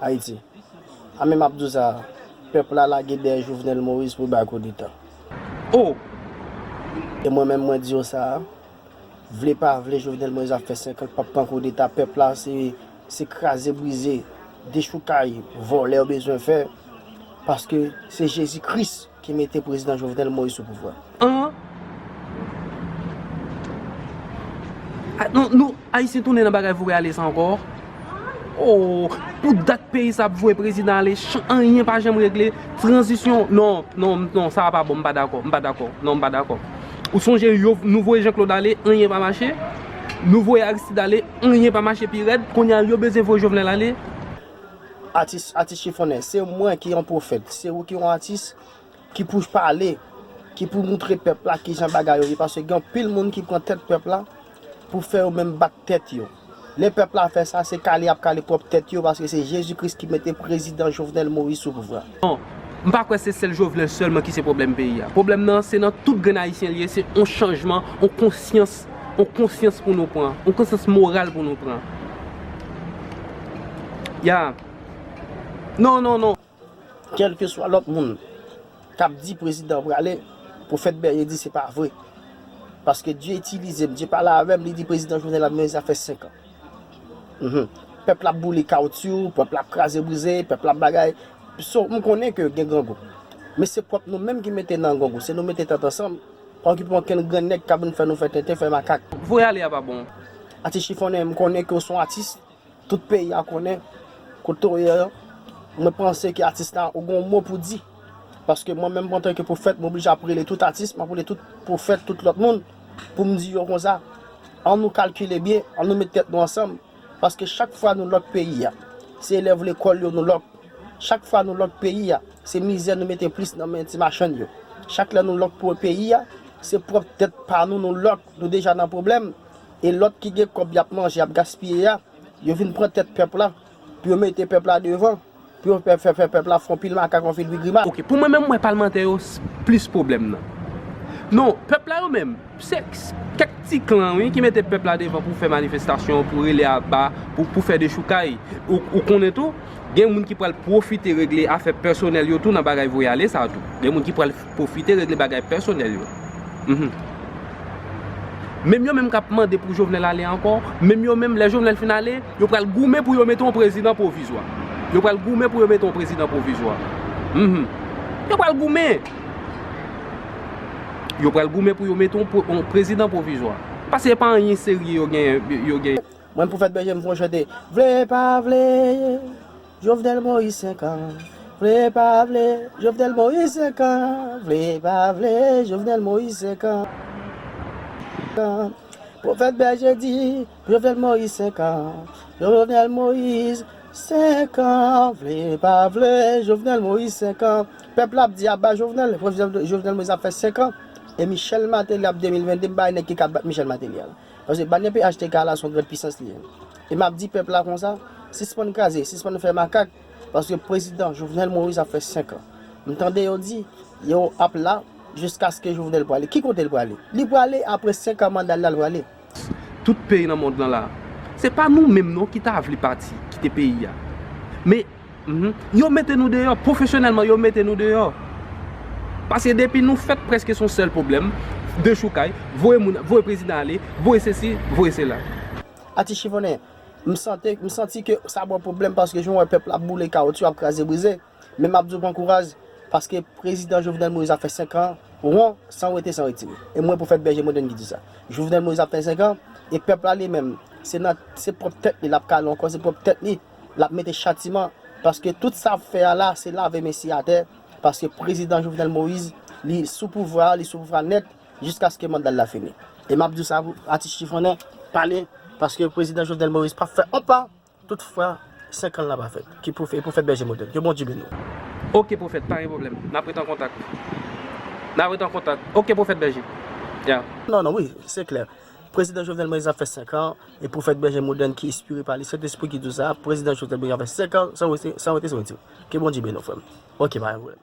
Haiti. A men map diw sa a. Pep la lage deye Jovenel Moise pou bay koudeta. Oh! E mwen menm mwen diw sa a. Vle pa vle Jovenel Moise ap fe 5 an pap pran koudeta. Pep la se se kraze brize, dechoukay, vole yo bezwen fe. Paske se Jezi Christ. Ki mete prezidan Jovenel Moïse sou pouvwa. An Nou ayisyen tounen nan bagay voye ale sa ankò ooh pou dat peyi sa ap voye prezidan ale chan anyen pa janm regle tranzisyon non non non sa a pa bon m pa dakò m pa dakò non m pa dakò ou sonje yo nou voye Jean Claude ale anyen pa mache nou voye Aristide ale anyen pa mache pi rèd kounye a yo bezwen voye Jovenel ale. Atis atis chifonè se mwen ki yon pwofèt se ou ki yon atis ki pou pale ki pou moutre pèp la kijan bagay yo ye paske gen anpil moun ki pran tèt pèp la pou fè yo menm bat tèt yo lè pèp la fè sa se kale yap kale pwòp tèt yo paske se jezi kris ki mete prezidan jovenel moïse sou pouvwa. Non, m pa kwè se sèl Jovenel sèlman ki se pwoblèm peyi a. Pwoblèm nan, se nan tout grenn Ayisyen li ye, se yon chanjman, yon konsyans, yon konsyans pou nou pran, yon konsyans moral pou nou pran. Ya. Non, non, non. Kèlkeswa lòt moun k ap di prezidan an prale, pwofèt Berye di se pa vre. Paske Dye itilize m, Dye pale avè m, li di prezidan Jovenel ap mennen zafè 5 an. Pèp la ap boule kawotyou, pèp la ap kraze brize, pèp la ap bagay. So, m konnen ke gen grangou. Men se pwòp nou menm ki mete nan grangou. Se nou mete tèt ansanm, pa okipe okenn grenn nèg k ap vin fè nou fè tenten, fè makak. Voye ale a pa bon. Atis chifonnen, m konnen ke w se yon atis. Tout peyi a konnen kote w ye. Mwen panse ke atis la, ou gen yon mo pou di. Paske mwen menm antanke pwofèt m oblije ap rele tout atis, m ap rele tout pwofèt, tout lòt moun pou m di yo konsa, an nou kalkile byen, an nou met tèt nou ansanm, paske chak fwa nou lòk peyi a, se elèv lekòl yo nou lòk, chak fwa nou lòk peyi a, se mizè nou mete plis nan men ti machann yo, chak lè nou lòk peyi a, se pwòp tèt pa nou nou lòk, nou deja nan pwoblèm, e lòt ki gen kòb y ap manje, y ap gaspiye a, yo vin pran tèt pèp la, pou yo mete pèp la devan. Pou yon pèp fè fè pèp la fon pil makak yon fil pi grimas. Ok pou mwen menm mwen palmantè yo plis pwoblèm nan. Non pèp la yo menm se kèk ti klan wi ki mete pèp la devan pou fè manifestasyon pou rele aba pou fè dechoukay ou konnen tou gen moun ki pral pwofite regle afè pèsonèl yo tou nan bagay voye ale sa tou gen moun ki pral Pwofite regle bagay pèsonèl yo. Menm yo menm k ap mande pou Jovenel ale ankò, menm yo menm lè Jovenel fin ale, yo pral goumen pou yo mete yon prezidan pwovizwa. Yo pral goumen pou yo mete yon prezidan pwovizwa. Yo pral goumen. Yo pral goumen pou yo mete yon prezidan pwovizwa. Pase e pa anyen serye yo genyen. Mwen pou fèt bèje m fon chante. Vle pa vle. Jovenel Moïse 5 an, vle pa vle, Jovenel Moïse 5 an, vle pa vle, Jovenel Moïse 5 an, Profèt Bèje di, Jovenel Moïse 5 an, Jovenel Moïse 5 an, vle pa vle, Jovenel Moïse 5 an, pèp la ap di aba Jovenel, Jovenel Moïse ap fè 5 an, e Michel Martelly ap 2022 m bay nèg ki ka bat Michel Martelly al. Paske banyè phtk la son grand pisans li ye. E map di pèp la konsa, sispann kraze, sispann fè makak, paske prezidan Jovenel Moïse ap fè 5 an. M tande yo di, yo ap la jiskaske Jovenel prale. Ki kote l prale? Li prale apre 5 an manda l la l prale. Tout peyi nan mond lan la. Se pa nou menm non ki ta vle pati, kite peyi a. Men. Yo mete nou deyò, pwofesyonèlman yo mete nou deyò. Paske depi nou fèt prèske son sèl pwoblèm, dechoukay, voye moun, voye prezidan ale, voye sesi, voye sela. Atis chifonnen, m sante, m santi ke sa ba w pwoblèm paske jan w wè pèp la ap boule kawotyou, ap kraze brize. Men m ap di w pran kouraj, paske prezidan Jovenel Moïse ap fè 5 an won, san wete san wetire. E mwen pwofèt Bèje Modèn ki di sa. Jovenel Moïse ap fè 5 an, e pèp la li menm, se nan, se pwòp tèt li l ap kale ankò, se pwòp tèt li. Lap mete chatiman paske tout sa ap fè a la se lave mesye atè paske prezidan Jovenel Moïse li sou pouvwa a li sou pouvwa nèt jiskaske mandal la fini e map diw sa pou atis chifonnen pale paske prezidan Jovenel Moïse pap fè on pa tout fwa 5 an la pa fèt ki pou fè profèt bèje modèl ke Bondye beniw. Ok profèt pa gen problèm nap ret an kontak nap ret an kontak ok profèt bèje yeah. Non non wi se klè prezidan Jovenel Moïse ap fè 5 an. E pwofèt bèje modèn ki espire pa li sentespri ki dou sa a prezidan jovenel moise ap fè 5 an san wete san wete san wete ke bondye beni w frè m ok pa gen pwoblèm.